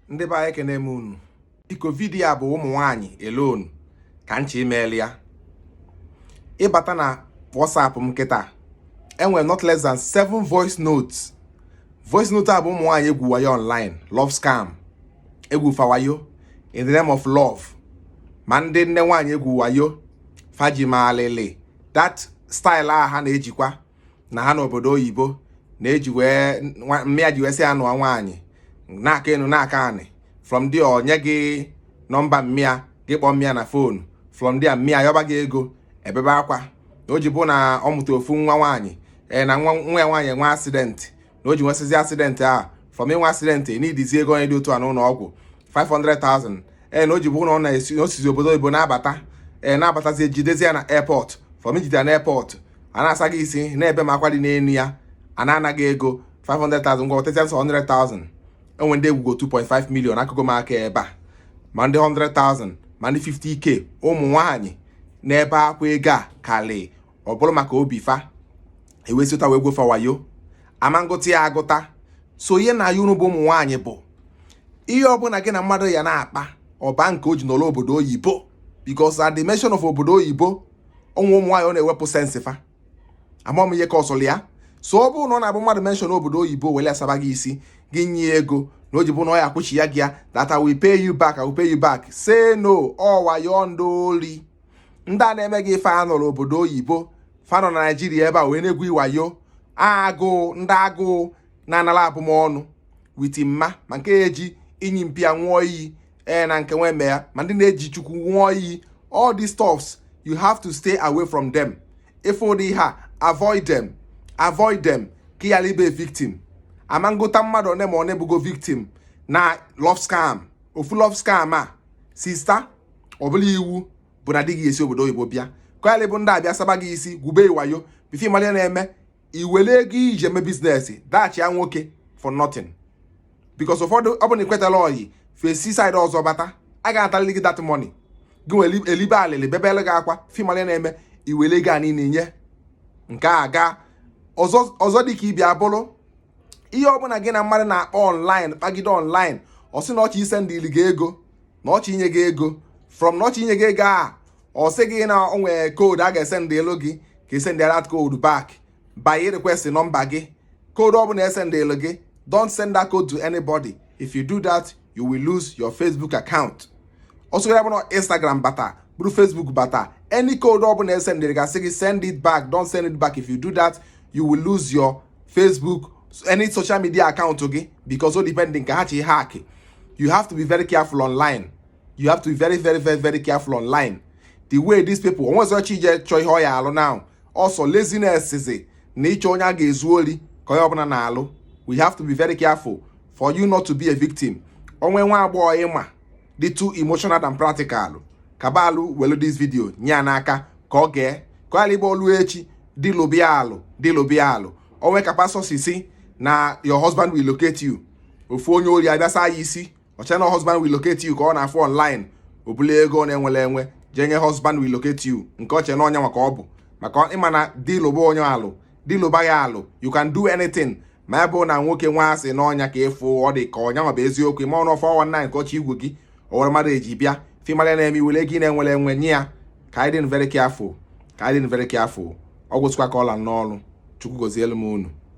ndị be anyị ekenee m unu biko vidiyo a bụ ụmụ nwaanyị alone ka m chọ imeeli ya ịbata na WhatsApp m kịta enwere not less than 7 voice notes voice note a bụ ụmụ nwaanyị egwu wayo online love scam egwu fa wayo in the name of love ma ndị nne nwaanyị egwu wayo fa ji malịlị that style a ha na-ejikwa na ha nọ obodo oyibo na-eji wee mmịa ji wee sị anụọ nwaanyị na-aka enu na-aka anị from there ọ nye gị nọmba mmịa gị kpọọ mmịa na fonu from there mmịa yọba gị ego ebebe akwa na o ji bụ na ọ mụta ofu nwa nwaanyị ee na nwa ya nwaanyị nwe accident na o ji nwesịzi accident a from inwe accident needizi ego onye dị otu a n'ụlọ ọgwụ 500,000 ee na o ji bụ na ọ na-esi na o sizi obodo oyibo na-abata ee na-abatazi ejidezi ya na airport from ijide ya na airport a na-asa gị isi na-ebe m akwa dị n'elu ya a na-ana gị ego 500,000 ngwa wetazie sọ 100,000 enwe ndị egwugo 2.5 million akụkọ m aka ebe a ma ndị 100,000 ma ndị 50k ụmụ nwaanyị na-ebe akwa ego a karị ọ bụrụ maka obi fa ewesịta wee gwu fa wayo ama m gụta ya agụta so ihe m na-ayọ unu bụ ụmụ nwaanyị bụ ihe ọbụla gị na mmadụ ya na-akpa ọ ba nke o ji nọlọ obodo oyibo because at the mention of obodo oyibo ụmụ ụmụ nwaanyị ọ na-ewepụ sense fa ama m ihe cause-ọrọ ya so ọ bụrụ na ọ na-abụ mmadụ mention obodo oyibo wele asaba gị isi gị nye ego na o ji bụ na ọ ya-akwụchiya gị ya that I will pay you back I will pay you back say no ọ wayo ndị ori ndị a na-eme gị ife a anọrọ obodo oyibo fa nọ na naijiria ebe a wee na-egwu i wayo agụụ ndị agụụ na-anara abụmọnụ witi mma ma nke ya eji inyi mpịa nwụọ iyi ee na nke nweme ya ma ndị na-eji chukwu nwụọ iyi all these stuffs you have to stay away from them ị fụ ụdị ha avoid them avoid them ka ị ghara ibe victim ama m gụta mmadụ one ma one bụgo victim na love scam ofu love scam a sista ọ bụrọ iwu bụ na di gị esi obodo oyibo bịa ka ọ yalị ịbụ ndị a bịa saba gị isi gwube i wayo before ị mara ihe na-eme i were ego i ji eme business dashia nwoke for nothing because ụfọdụ ọ bụ na i kwetala ọyị fa esi side ọzọ bata a ga-atalili gị that money gị were elibe alịlị bebele gị akwa before ị malị ihe na-eme i were ego a niile nye nke a gaa ọzọ dịka ị bịa bụrụ ihe ọbụla gị na mmadụ na-akpa online kpagide online ọ sị na ọ chọ isendili gị ego na ọ chọ inye gị ego from na ọ chọ inye gị ego a ọ sị gị na o nwere code a ga-esendielu gị ka i sendịa that code back bịa request nọmba gị code ọbụla e sendielu gị don't send that code to anybody if you do that you will lose your facebook account ọsọ ya bụ na instagram bata bụrụ facebook bata any code ọbụla e sendịrị gị sị gị send it back don't send it back if you do that you will lose your Facebook any social media account gị because o depending ka ha chọ ịhack you have to be very careful online you have to be very very very very careful online the way these people o nwezọ chọ ije chọọ ihe ọ ya-alụ now ọ sọ laziness zi na ịchọ onye a ga-ezu ori ka onye ọbụla na-alụ we have to be very careful for you not to be a victim o nwee nwa agbọghọ ị ma dị too emotional than practical kabalụ welu this video nye ya n'aka ka ọ gee ka ọ yalị ịbụ o lu echi di lụba ya alụ di lụba ya alụ o nwee ka pastọ si sị na your husband will locate you ofu onye ori abịa saa ya isi o chee na husband will locate you ka ọ na-afụ online o bulu ego ọ na-enwere enwe jee nye husband will locate you nke o che na ọ nya maka ọ bụ maka ị ma na di lụba onye alụ di lụba gị alụ you can do anything ma ebe bụ na nwoke nwa sị na ọ nya ka ị fụ ọ dị ka ọ nya nwa bụ eziokwu ị maọ na ọ 419 ka ọ chọ igwu gị o were mmadụ eji bịa film a na-eme i were ego ị na-enwere enwe nye ya ka anyị dị very careful ka anyị dị very careful ọ gwụsịkwa ka ọ la m n'ọnụ Chukwu gozielu m unu